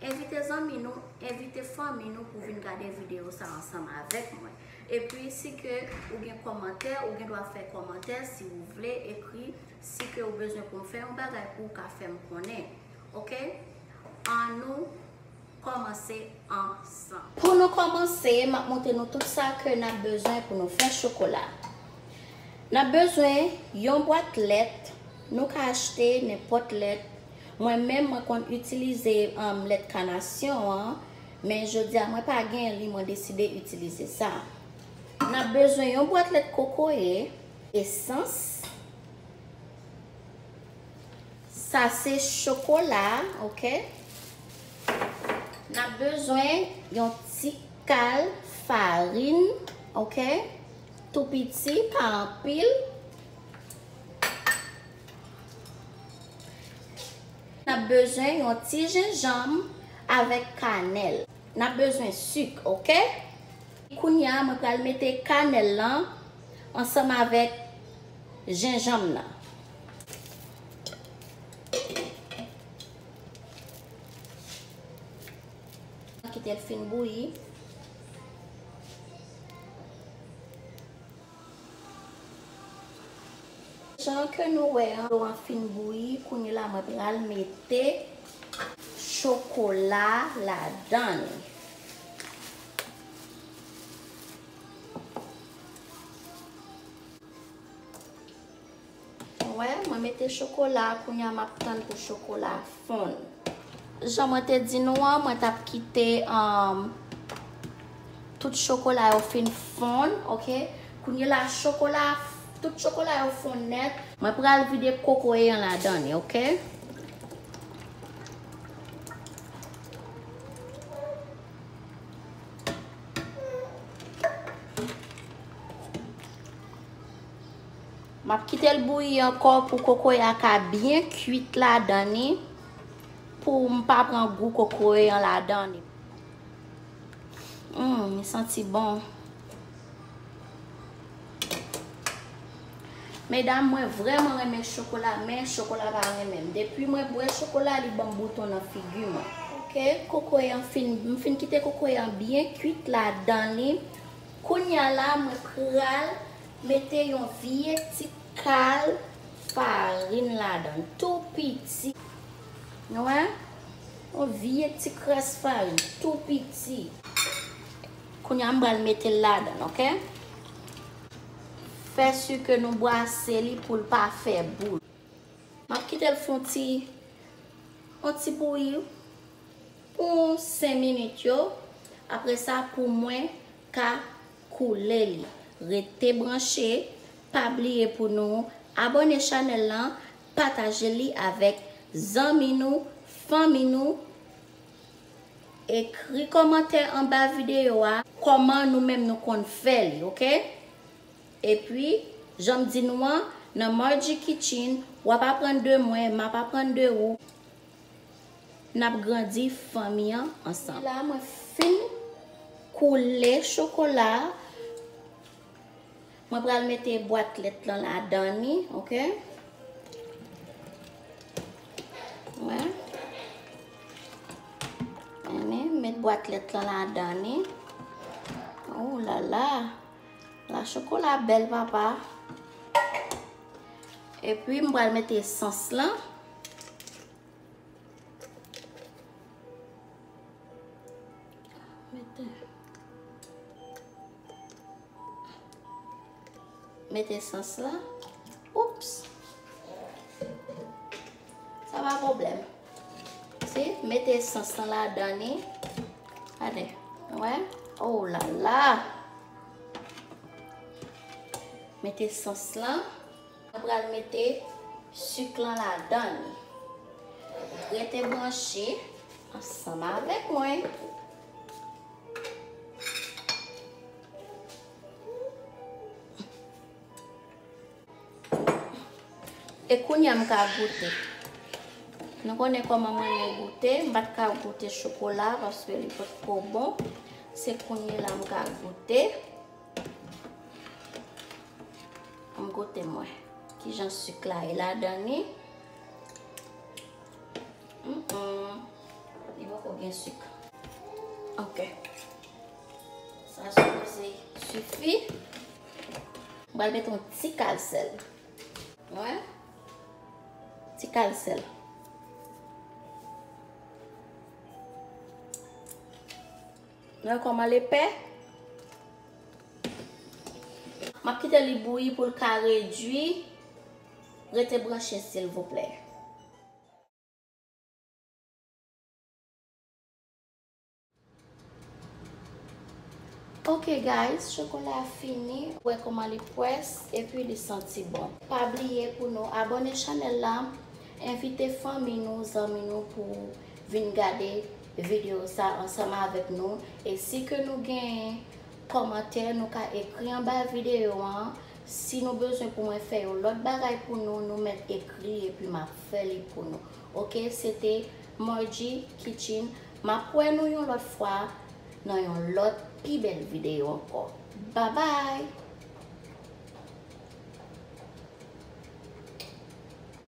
Envite zanmi nou, envite fanmi nou pou vin gade videyo sa ansanm avèk mwen. Epi si ke ou gen kòmantè, ou gen dwa fè kòmantè si ou vle ekri si ke ou bezwen pou m fè yon bagay pou ou ka fè m konnen. Ok, an nou kòmanse ansanm. Pou nou kòmanse, m ap montre nou tout sa ke n ap bezwen pou nou fè chokola. N ap bezwen yon bwat lèt, nou ka achte nenpòt lèt. Mwen menm mwen konn itilize lèt kanasyon an men jodia mwen pa gen li mwen deside itilize sa. Nap bezwen yon bwat lèt kokoye, esans, sa se chokola ok, nap bezwen yon ti kal farin ok tou piti pa anpil. N ap bezwen yon ti jenjanm avèk kanèl. N ap bezwen sik ok. Kounya mwen pral mete kanèl lan ansanm avèk jenjanm nan. Kite l fin bouyi. Jan ke nou wè an dlo an fin bouyi kounye la mwen pral mete chokola ladann. Nou wè, mwen mete chokola, kounya map tann pou chokola a fonn. Jan mwen te di nou an, mwen tap kite tout chokola yo fin fonn, ok. Kounyela chokola, tout chokola yo fonn nèt. Mwen pral vide kokoye an ladan li, ok. Map kitel bouyi anko pou kokoya ka byen kuit ladan ni poum pa pran gou kokoye an ladan ni. Humm li santi bon. Medam mwen vreman renmen chokola men chokola pa renmenm depi mwen bwe chokola li banm bouton nan figi mwen. Ok kokoye an fin m fin kite kokoye an byen kuit ladan ni kounya la mwen pral. Mete yon vye ti kal farin ladan tou piti. Nou wè? Yon vye ti kras farin tou piti. Kounye a m pral mete l ladan, ok? Fè si ke nou bwase li pou l pa fè boul. M ap kite l fè yon ti yon ti bouyi pou 5 minit yo. Apre sa pou mwen ka koulè li rete branche pa bliye pou nou abòne chanèl lan pataje li avèk zanmi nou fanmi nou ekri kòmantè anba videyo a kòman nou menm nou konn fè li ok epi janm di nou an nan Margie kitchen wap aprann de mwen map aprann de ou Nap grandi fanmi an ansanm. Epi la mwen fin koule chokola. Mwen pral mete bwat lèt lan ladan ni. Ok. Mwen. Mwen met bwat lèt lan ladan ni. Ou lala. La chokola bel papa. Epi mwen pral mete esans lan. Met esans la. Oups. Sa va problem. Si, met esans nan la dani. Ade. Ouè. Ou la la. Met esans la. Oups. Mwen pral mete suk lan ladann. Rete branche ansanm avèk mwen. E kounya m ka goute. Nou konnen koman mwen renmen goute. M pat ka goute chokola paske li pot ko bon. Se kounye la m ka goute. Anm goute mwen. Kijan suk la ye ladan ni. Hum hum. Li poko gen suk. Ok. Sa suppose sufi. M pral met yon ti kal sèl. Wè. Ti kal sèl. Nan kòman lepè. Map kite li bouyi poul ka redwi rete branche silvouplè. Ok guys chokola a fini wè kòman li pwès epi li santi bon. Pa bliye pou nou abòne chanèl la, envite fanmi nou, zanmi nou pou vin gade video sa ansanm avèk nou e si ke nou gen kòmantè nou ka ekri anba video an si nou bezwen pou mwen fè yon lòt bagay pou nou nou mèt ekri epi map fè li pou nou ok se te Margie kitchen map wè nou yon lòt fwa nan yon lòt pi bèl video ankò babay.